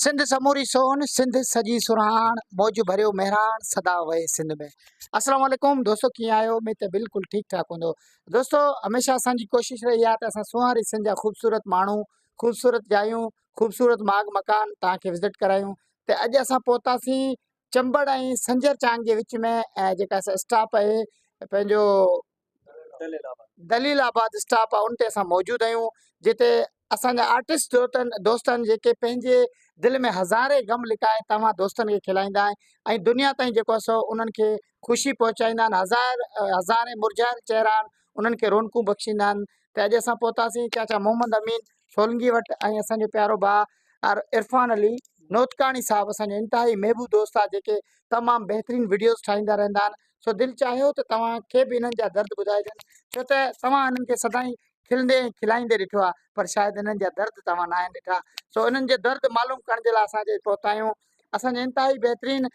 سنڌ سموري سون سنڌ سڄي سرهاڻ موج ڀريو مهراڻ سدا وهي سنڌ ۾ السلام عليڪم دوستو ڪيئن آهيو اميد ته بلڪل ٺيڪ ٺاڪ هوندو دوستو هميشه اسان جي ڪوشش رهي آهي ته اسان سونهاري سنڌ جا خوبصورت ماڻهو خوبصورت جايون خوبصورت ماڳ مڪان توهان کي وزٽ ڪرايون ته اڄ اسان پهتاسين چمبڙ ۽ سنجر چانگ جي وچ ۾ جيڪا اسٽاپ آهي پنهنجو دليل آباد اسٽاپ آ ان تي اسان موجود آهيون جتي اسان جا آرٽسٽ دوتن دوستن جيڪي پنهنجي دل ۾ هزارين غم لڪائي توهان دوستن کي کلائيندا آهن ۽ دنيا تائين جيڪو آ سو انهن کي خوشي پهچائيندا آهن هزار هزارين مرجهايل چهرا آهن انهن کي رونقون بخشيندا آهن ته اڄ اسان پهتاسين چاچا محمد امين سولنگي وٽ ۽ اسان جو پيارو ڀاء عرفان علي نوتڪاڻي صاحب اسان جو انتهائي محبوب دوست آ جيڪي تمام بهترين وڊيوز ٺاهيندا رهندا آهن سو دل چاهيو ته توهان کي به انهن جا درد ٻڌائجن ڇو ته توهان انهن کي سدائين کلندي ۽ کلائيندي ڏٺو آهي پر شايد انهن جا درد توهان ناهن ڏٺا سو انهن جا درد معلوم ڪرڻ جي لاء اسان اڄ پهتا آهيون اسان جا انتهائي بهترين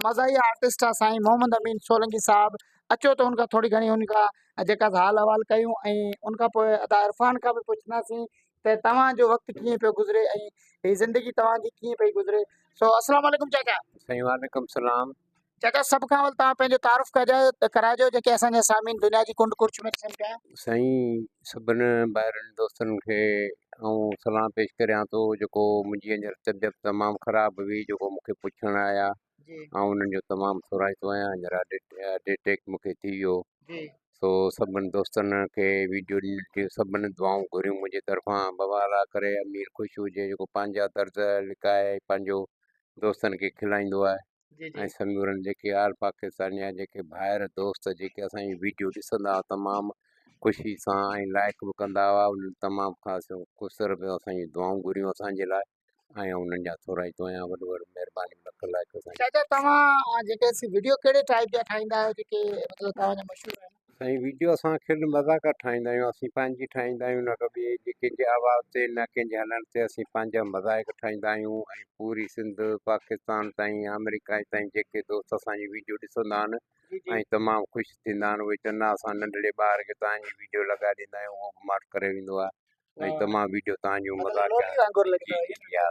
مزاحيه آرٽسٽ آهي سائين محمد امين سولنگي صاحب اچو ته ان کان ٿوري گهڻي ان کان جيڪا حال احوال ڪيون ۽ ان کان پوء ادا عرفان کان به پڇنداسين ته توهان جو وقت ڪيئن پيو گذري ۽ هي زندگي توهان جي ڪيئن پئي گذري سو السلام علیڪم چاچا سائين وعليڪم السلام چچا سڀ کان اول توهان پنهنجو تعارف ڪرائجو جيڪي اسان جا سامعين دنيا جي ڪنڊ ڪڙڇ ۾ ڏسن پيا. سائين سڀن ڀائرن دوستن کي آئون سلام پيش ڪريان ٿو جيڪو منهنجي هينئر طبيعت تمام خراب هئي جيڪو مون کي پڇڻ آيا آئون انهن جو تمام سورائتو آهيان هينئر هارٽ اٽيڪ مون کي ٿي ويو سو سڀن دوستن کي ويڊيو ڏنل ٿي سڀن دعائون گهريون منهنجي طرفان بابا الا ڪري امير خوش هجي جيڪو پنهنجا درد لڪائي پنهنجو دوستن کي کلائيندو آهي جي جي ۽ سمورن جيڪي آل پاڪستاني جا جيڪي ڀائر دوست جيڪي اسان جي ويڊيو ڏسندا هئا تمام خوشي سان ۽ لائڪ به ڪندا هئا انهن تمام خاص خسر به اسان جي دعائون گهريون اسان جي لاء ۽ انهن جا ٿورائي توهان وڏو وڏو مهرباني لک لائڪ اسان جي چاچا توهان جيڪي سي ويڊيو ڪهڙي ٽائپ جا ٺاهيندا آهيو جيڪي مطلب توهان جا مشهور آهن سائين ويڊيو اسان کل مذاق ٺاهيندا آهيون اسين پنهنجي ٺاهيندا آهيون نه ڪو ٻئي جي ڪنهن جي آواز تي نه ڪنهن جي هلڻ تي اسين پنهنجا مذاق ٺاهيندا آهيون ۽ پوري سنڌ پاڪستان تائين آمريڪا تائين جيڪي دوست اسان جي ويڊيو ڏسندا آهن ۽ تمام خوش ٿيندا آهن اهي چوندا آهن اسان ننڍڙي ٻار کي توهان جي ويڊيو لڳائي ڏيندا آهيون اهو به ماٺ ڪري ويندو آهي ۽ تمام ويڊيو تان جون مزاقيا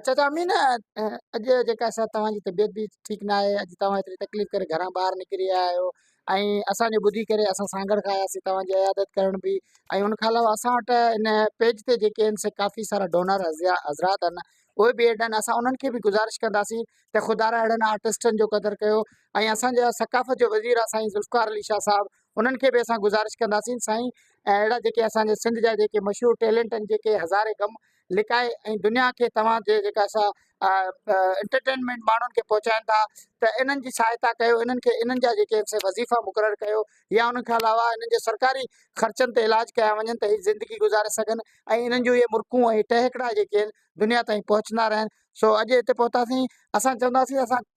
چچا امين اڄ جيڪا سا توهان جي طبيعت به ٺيڪ نه آهي اڄ توهان ايتري تڪليف ڪري گهران ٻاهر نڪري آيا آهيو ۽ اسان جو ٻڌي ڪري اسان سانگھڙ کان آياسي توهان جي عيادت ڪرڻ به ۽ ان کان علاوه اسان وٽ ان پيج تي جيڪي آهن سي ڪافي سارا ڊونر حضرات آهن اهي به ايڊ آهن اسان انهن کي به گزارش ڪنداسين ته خدارا اهڙن آرٽسٽن جو قدر ڪيو ۽ اسان جا ثقافت جو وزير آهي سائين ذوالفقار علي شاهه صاحب انهن کي به اسان گذارش ڪنداسين سائين ۽ اهڙا جيڪي اسان جي سنڌ جا جيڪي مشهور ٽيلنٽ آهن جيڪي هزارين غم لڪائي ۽ دنيا کي توهان جي جيڪا سا انٽرٽينمينٽ ماڻهن کي پهچائين ٿا ته انهن جي سهائتا ڪيو انهن کي انهن جا جيڪي سي وظيفا مقرر ڪيو يا ان کان علاوه انهن جي سرڪاري خرچن تي علاج ڪيا وڃن ته هي زندگي گذاري سگهن ۽ انهن جون اهي مرڪون ۽ ٽهڪڙا جيڪي آهن دنيا تائين پهچندا رهن سو اڄ هتي پهتاسين اسان چونداسين اسان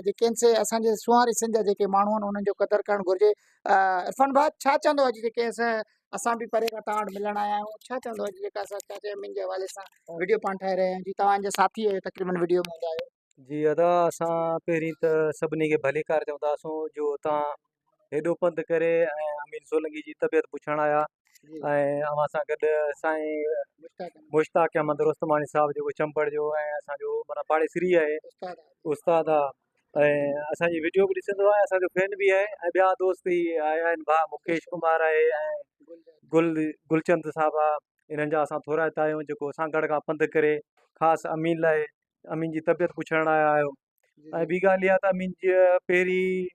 جيڪي آهن سي اسان جي سونهاري سنڌ جا جيڪي ماڻهو آهن انهن جو قدر ڪرڻ گهرجي عرفان ڀاء ڇا چوندو اڄ جيڪي اسان به پري کان توهان وٽ ملڻ آيا آهيون ڇا چوندو اڄ جيڪا اسان چاچا امين جي حوالي سان ويڊيو پاڻ ٺاهي رهيا آهيون جي توهان جا ساٿي آهيو تقريبن ويڊيو ۾ هوندا آهيو جي ادا اسان پهرين ته سڀني کي ڀليڪار چونداسون جو تان هيڏو پنڌ ڪري ۽ امين سولنگي جي طبيعت پڇڻ آيا ۽ اوهان سان گڏ سائين مشتاق احمد رستماڻي صاحب جيڪو چمبڙ جو ۽ اسانجو مانا پاڙيسري آهي استاد آهي ۽ اسانجي ويڊيو به ڏسندو آهي اسانجو فين به آهي ۽ ٻيا دوست هي آيا آهن ڀاء مڪيش ڪمار آهي ۽ گل گلچند صاحب آ انهن جا اسان ٿورائتا آهيون جيڪو سانگهڙ کان پنڌ ڪري خاص امين لاء امين جي طبيعت پڇڻ لاء آيو ۽ ٻي ڳالهه اها ته امين جي پهرين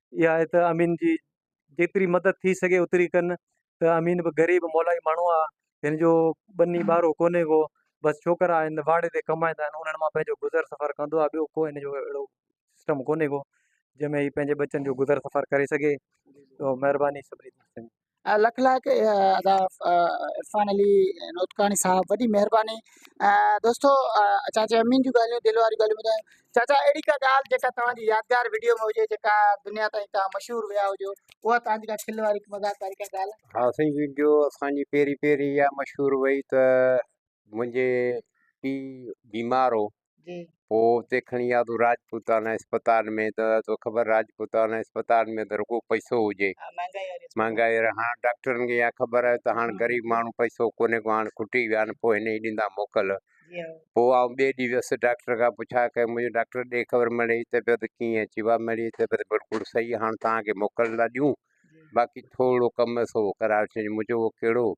اها آهي ته امين جي جيتري مدد ٿي سگهي اوتري ڪن ته امين به غريب مولائي ماڻهو آهي هن جو ٻني ٻارو ڪونهي ڪو بس ڇوڪرا آهن واڙي تي ڪمائيندا آهن انهن مان پنهنجو گذر سفر ڪندو آهي ٻيو ڪو هن جو اهڙو سسٽم ڪونهي ڪو جنهن ۾ هي پنهنجي ٻچن جو گذر سفر ڪري سگهي مهرباني لک لائق ادا عرفان علي نوتڪاڻي صاحب وڏي مهرباني دوستو چاچا امين جون ڳالهيون دل واريون ڳالهيون ٻڌايو چاچا اهڙي کا ڳالهه جيڪا توهان جي يادگار ويڊيو ۾ هجي جيڪا دنيا تائين توهان مشهور ويا هجو اها توهان جي کا کل واري مذاق واري کا ڳالهه ها سائين ويڊيو اسان جي پهرين پهرين اها مشهور وئي ته منهنجي پي بيمار هو جي پوء اتي کڻي آيو تو راجپوتانا اسپتال ۾ ته تو خبر راجپوتانا اسپتال ۾ ته رڳو پئسو هجي مهانگائي واري هاڻ ڊاڪٽرن کي اها خبر آهي ته هاڻ غريب ماڻهو پئسو ڪونهي ڪو هاڻ کٽي ويا آهن پوء هن ئي ڏيندا موڪل پوء آئون ٻئي ڏينهن ويس ڊاڪٽر کان پڇا ڪيم منهنجو ڊاڪٽر ڏي خبر مڙي هي طبيعت ڪيئن اچي وا مڙي هي طبيعت بلڪل صحيح هاڻ توهان کي موڪل ٿا ڏيون باقي ٿورڙو ڪم سو ڪرائي وٺجي مون چيو اهو ڪهڙو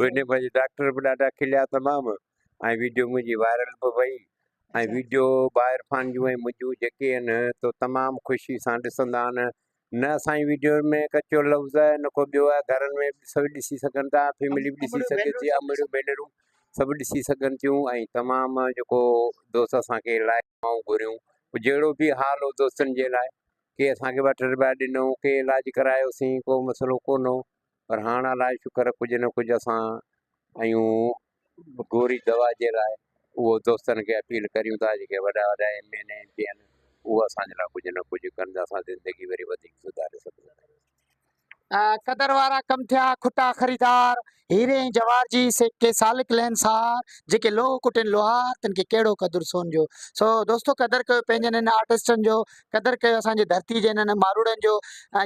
ويڊيو منهنجي ڊاڪٽر به ڏاڍا کليا تمام ۽ ويڊيو منهنجي وائرل به وئي ۽ ويڊيو با عرفان جون ۽ منهنجون جيڪي آهن تو تمام خوشي سان ڏسندا آهن نه اسان جي ويڊيو ۾ ڪچو لفظ آهي نه ڪو ٻيو آهي گهرن ۾ به سڀ ڏسي سگهن ٿا فيملي به ڏسي سگهي ٿي امڙيون ڀينرون سڀ ڏسي سگهن ٿيون ۽ تمام جيڪو دوست اسان کي لائق دعائون گهريون. جهڙو به حال هو دوستن جي لاء ڪي اسان کي وٺ رپيا ڏنو ڪي علاج ڪرايوسين ڪو مسئلو ڪونه هو پر هاڻ الائي شڪر ڪجهه نه ڪجهه اسان ايون گوري دوا جي لاء اهو دوستن کي اپيل ڪريون ٿا جيڪي وڏا وڏا M N A M P اهن اهو اسان جي لاء ڪجهه نه ڪجهه ڪن ته اسان زندگي وري وڌيڪ سڌاري سگهون ٿا. قدر وارا ڪم ٿيا کٽا خريدار هيري ۽ جوار جي سيڪي سالڪ لين سار جيڪي لوهه ڪٽين لوهار تن کي ڪهڙو قدر سون جو سو دوستو قدر ڪيو پنهنجن هن آرٽسٽن جو قدر ڪيو اسانجي ڌرتي جي هنن ماروڙن جو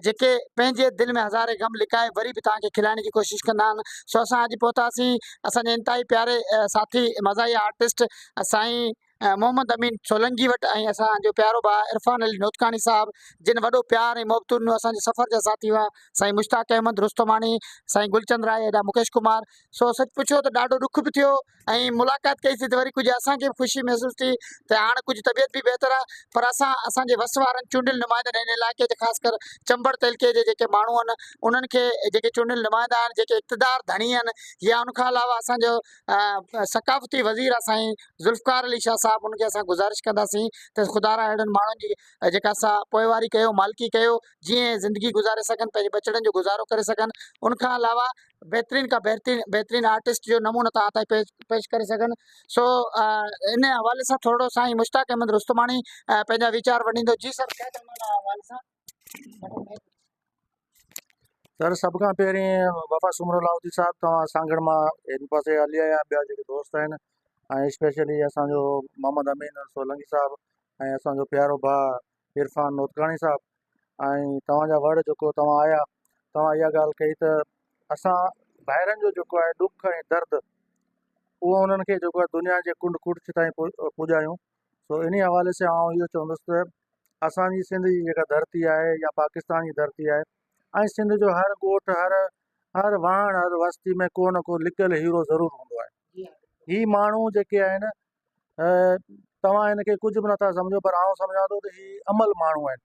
جيڪي پنهنجي دل ۾ هزارين غم لڪائي وري به توهان کي کلائڻ جي ڪوشش ڪندا آهن سو اسان اڄ پهتاسين اسانجي انتهائي پياري ساٿي مزاحيه آرٽسٽ سائين محمد امين سولنگي وٽ ۽ اسان جو پيارو ڀاء عرفان علي نوتڪاڻي صاحب جن وڏو پيار ۽ محبتون ڏنو اسان جي سفر جا ساٿي هئا سائين مشتاق احمد رستماڻي سائين گلچند راء ادا مڪيش ڪمار سو سچ پڇو ته ڏاڍو ڏک به ٿيو ۽ ملاقات ڪئي سي ته وري ڪجهه اسان کي به خوشي محسوس ٿي ته هاڻ ڪجهه طبيعت به بهتر آ پر اسان اسان جي وس وارن چونڊيل نمائندن هن علائقي جي خاص ڪر چمبڙ تعلقي جي جيڪي ماڻهو آهن انهن کي جيڪي چونڊيل نمائندا آهن جيڪي اقتدار ڌڻي آهن يا ان کان علاوه اسان جو ثقافتي وزير آ سائين ذوالفقار علي شاھ صاحب انکي اسان گذارش ڪنداسين ته خدا را اھڙن ماڻھن جي جيڪا سا پوئواري ڪيو مالڪي ڪيو جيئن زندگي گذاري سگھن پنھنجي ٻچڙن جو گذارو ڪري سگھن انکان علاوه بھترين کان بھترين بھترين آرٽسٽ جو نمونو تھان تائين پيش پيش ڪري سگھن سو ان حوالي سان ٿورڙو سائين مشتاق احمد رستماڻي پنھنجا ويچار وڏيندو جي سر سر سڀ کان پهرين وفا سومرو لاهوتي صاحب توهان سانگهڙ مان هن پاسي هلي آيا ٻيا جيڪي دوست آهن ۽ اسپيشلي اسانجو محمد امين سولنگي صاحب ۽ اسانجو پيارو ڀاء عرفان نوتڪاڻي صاحب ۽ توهان جا ورڊ جيڪو توهان آيا توهان اها ڳالهه ڪئي ته اسان ڀائرن جو جيڪو آهي ڏک ۽ درد اهو انهن کي جيڪو دنيا جي ڪنڊ ڪڙڇ تائين پڄايون سو انهي حوالي سان آئون اهو چوندس ته اسان جي سنڌ جي جيڪا ڌرتي آهي يا پاڪستان جي ڌرتي آهي ۽ سنڌ جو هر ڳوٺ هر هر واهڻ هر وستي ۾ ڪو نه ڪو لڪل هيرو ضرور هوندو آهي هي ماڻهو جيڪي آهن توهان هن کي ڪجهه به نٿا سمجهو پر آئون سمجهان ٿو ته هي عمل ماڻهو آهن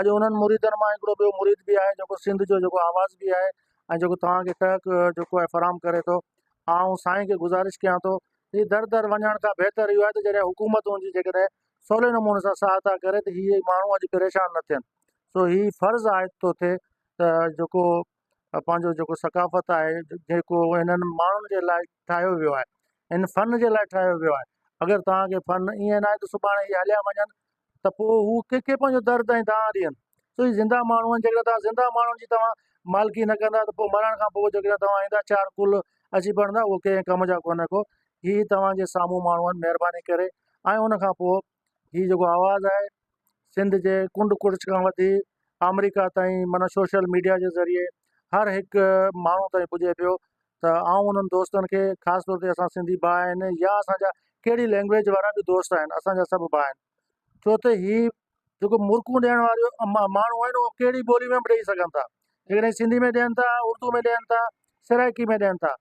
اڄ انهن مريدن مان هڪڙو ٻيو مريد به آهي جيڪو سنڌ جو جيڪو آواز به آهي ۽ جيڪو توهان کي ٽهڪ جيڪو آهي فراهم ڪري ٿو. آئون سائين کي گذارش ڪيان ٿو ته در در وڃڻ کان بهتر اهو آهي ته جڏهن حڪومت ان جي جيڪڏهن سولي نموني سان سهائتا ڪري ته هي ماڻهو اڄ پريشان نه ٿين. سو هي فرض عائد ٿو ٿئي ته جيڪو پنهنجو جيڪو ثقافت آهي جيڪو هنن ماڻهن جي لاء ٺاهيو ويو آهي ان فن جي لاء ٺاهيو ويو آهي اگر توهان کي فن ائين ناهي ته سڀاڻي اهي هليا وڃن ته پوء هو ڪنهن کي پنهنجو درد ۽ دانهن ڏين سو هي زنده ماڻهو آهن جيڪڏهن توهان زنده ماڻهن جي توهان مالڪي نه ڪندا ته پوء مرڻ کان پوء جيڪڏهن توهان ايندا چار ڪل اچي پڙندا اهو ڪنهن ڪم جا ڪونه ڪو هي توهان جي سامهون ماڻهو آهن مهرباني ڪري ۽ ان کان پوء هي جيڪو آواز آهي سنڌ جي ڪنڊ ڪڙڇ کان وٺي آمريڪا تائين معنيٰ سوشل ميڊيا جي ذريعي هر هڪ ماڻهو تائين پڄي پيو ته آئون انهن دوستن کي خاص طور تي اسان سنڌي ڀاء آهن يا اسانجا ڪهڙي لينگويج وارا به دوست آهن اسانجا سڀ ڀاء آهن ڇو ته هي جيڪو مرڪون ڏيڻ واريو ماڻهو آهن اهو ڪهڙي ٻولي ۾ به ڏيئي سگهن ٿا جيڪڏهن سنڌي ۾ ڏين ٿا اردو ۾ ڏين ٿا سرائڪي ۾ ڏين ٿا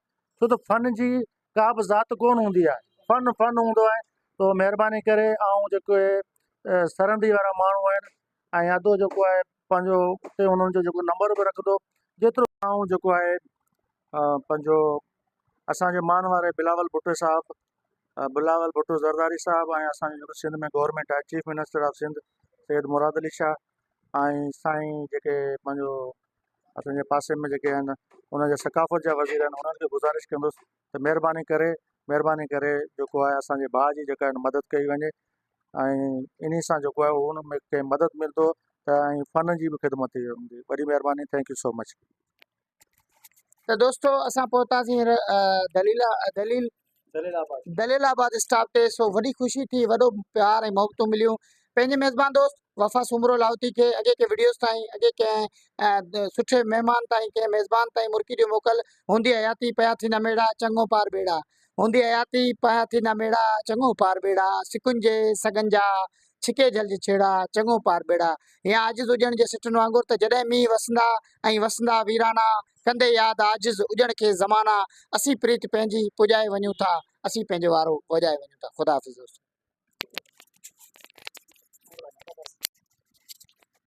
ڇو ته فن جي ڪا به ذات ڪون هوندي آهي فن فن هوندو آهي تو مهرباني ڪري آئون جيڪو هي سرندي وارا ماڻهو آهن ۽ ادو جيڪو آهي پنهنجو اتي انهن جو جيڪو نمبر به رکندو جيترو آئون جيڪو آهي پنهنجو اسانجي مان واري بلاول ڀٽو صاحب بلاول ڀٽو زرداري صاحب ۽ اسانجو جيڪو سنڌ ۾ گورنمنٽ آهي chief minister of Sindh Syed Murad Ali Shah ۽ سائين جيڪي پنهنجو اسان جي پاسي ۾ جيڪي آهن انهن جي ثقافت جا وزير آهن انهن کي گذارش ڪندس ته مهرباني ڪري مهرباني ڪري جيڪو آهي اسانجي ڀاء جي جيڪا آهن مدد ڪئي وڃي ۽ انهي سان جيڪو آهي ان ۾ ڪنهن مدد ملندو ته ۽ فن جي به خدمت ٿي ويندي وڏي مهرباني ٿينڪ يو سو مچ ته دوستو اسان پهتاسين هينئر دليلا دليل دليل آباد اسٽاپ تي سو وڏي خوشي ٿي وڏو پيار ۽ محبتون مليون پنهنجي ميزبان دوست وفا سومرو لاهوتي کي اڳي ڪنهن وڊيوز تائين اڳي ڪنهن سٺي مهمان تائين ڪنهن ميزبان تائين مرڪي ڏيو موڪل هوندي حياتي پيا ٿي نه ميڙا چڱو پار ٻيڙا هوندي حياتي پيا ٿي نه ميڙا چڱو پار ٻيڙا سکن جي سگن جا ڇڪي جھل جي ڇيڙا چڱو پار ٻيڙا يا عاجز هجڻ جي سٽن وانگر ته جڏهن مينهن وسندا ۽ وسندا ويرانا ڪندي ياد عاجز اجڻ کي زمانا اسين پريت پنهنجي پڄائي وڃون ٿا اسين پنهنجو وارو وڄائي وڃون ٿا خدا حافظ دوستو.